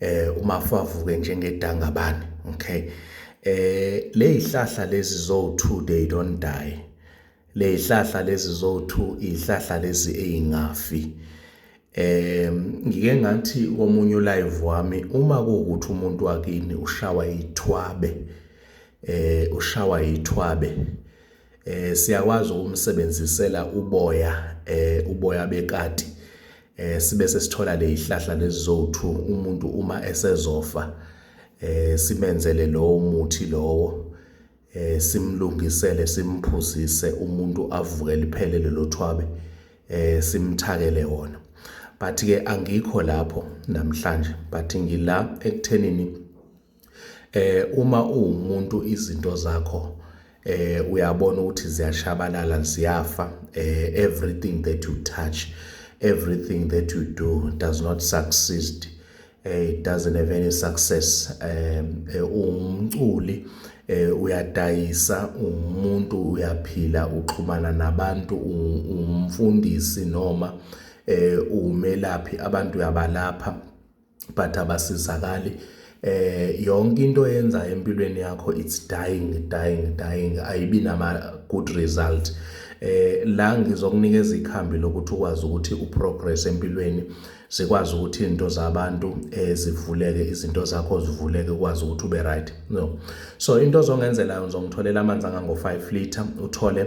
eh uma favuke njengedangabane okay eh lezihlahla lezi zo 2 they don't die lezihlahla lezi zo 2 izihlahla lezi ezingafi eh ngike ngathi komunye live wami uma kuwukuthi umuntu wakini ushawa ithwabe eh ushawa ithwabe eh siyakwazi ukumsebenzisela uboya eh uboya bekati eh sibe sesithola lezihlahla lezizothu umuntu uma esezofa eh simenzele lowo muthi lowo eh simlungisele simphuzise umuntu avuke liphele lelo thwabe eh simthakele wona but ke angikho lapho namhlanje but ngila ekuthenini Eh uma uwumuntu izinto zakho eh uyabona ukuthi ziyashabalala ziyafa eh everything that you touch everything that you do does not succeed eh it doesn't have any success eh, eh umculi eh uyadayisa umuntu uyaphila uxhumana nabantu umfundisi noma eh umelaphi abantu uyabalapha but abasizakali eh yonke into yenza empilweni yakho it's dying dying dying ayibi nama good result eh la ngizokunikeza ikhambi lokuthi ukwazi ukuthi uprogress empilweni sikwazi ukuthi izinto zabantu eh, zivuleke izinto zakho zivuleke ukwazi ukuthi ube right no so into ozongenzela ngizongitholela amanzi angango 5 liter uthole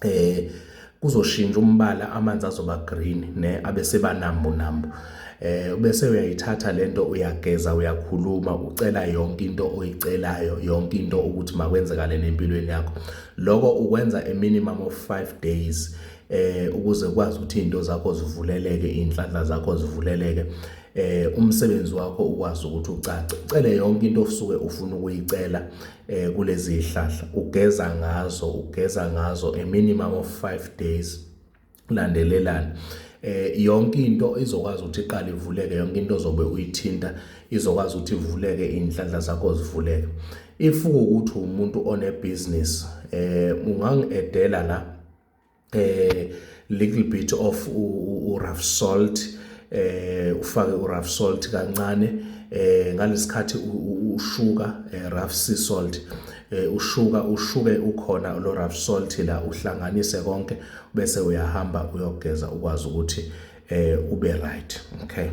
eh kuzoshintsha umbala amanzi azoba green ne abeseba nambu nambu eh bese uyayithatha lento uyageza uyakhuluma ucela yonke into oyicelayo yonke into ukuthi makwenzekale nempilweni yakho lokho ukwenza a minimum of 5 days eh ukuze ukwazi ukuthi izinto zakho zivuleleke inhlanhla zakho zivuleleke eh umsebenzi wakho ukwazi ukuthi ucace ucele yonke into osuke ufuna ukuyicela eh kulezi zihlahla ugeza ngazo ugeza ngazo a minimum of 5 days landelelana eh yonke into izokwazi ukuthi iqale ivuleke yonke into ozobe uyithinta izokwazi ukuthi ivuleke inhlanhla zakho zivuleke if ukuthi umuntu one business eh ungangiedela la eh little bit of u rough salt eh ufake u rough salt kancane eh ngalesikhathi ushuka eh, rough sea salt Eh, ushuka ushuke ukhona lo rough salt la uhlanganise konke bese uyahamba uyogeza ukwazi ukuthi eh ube right okay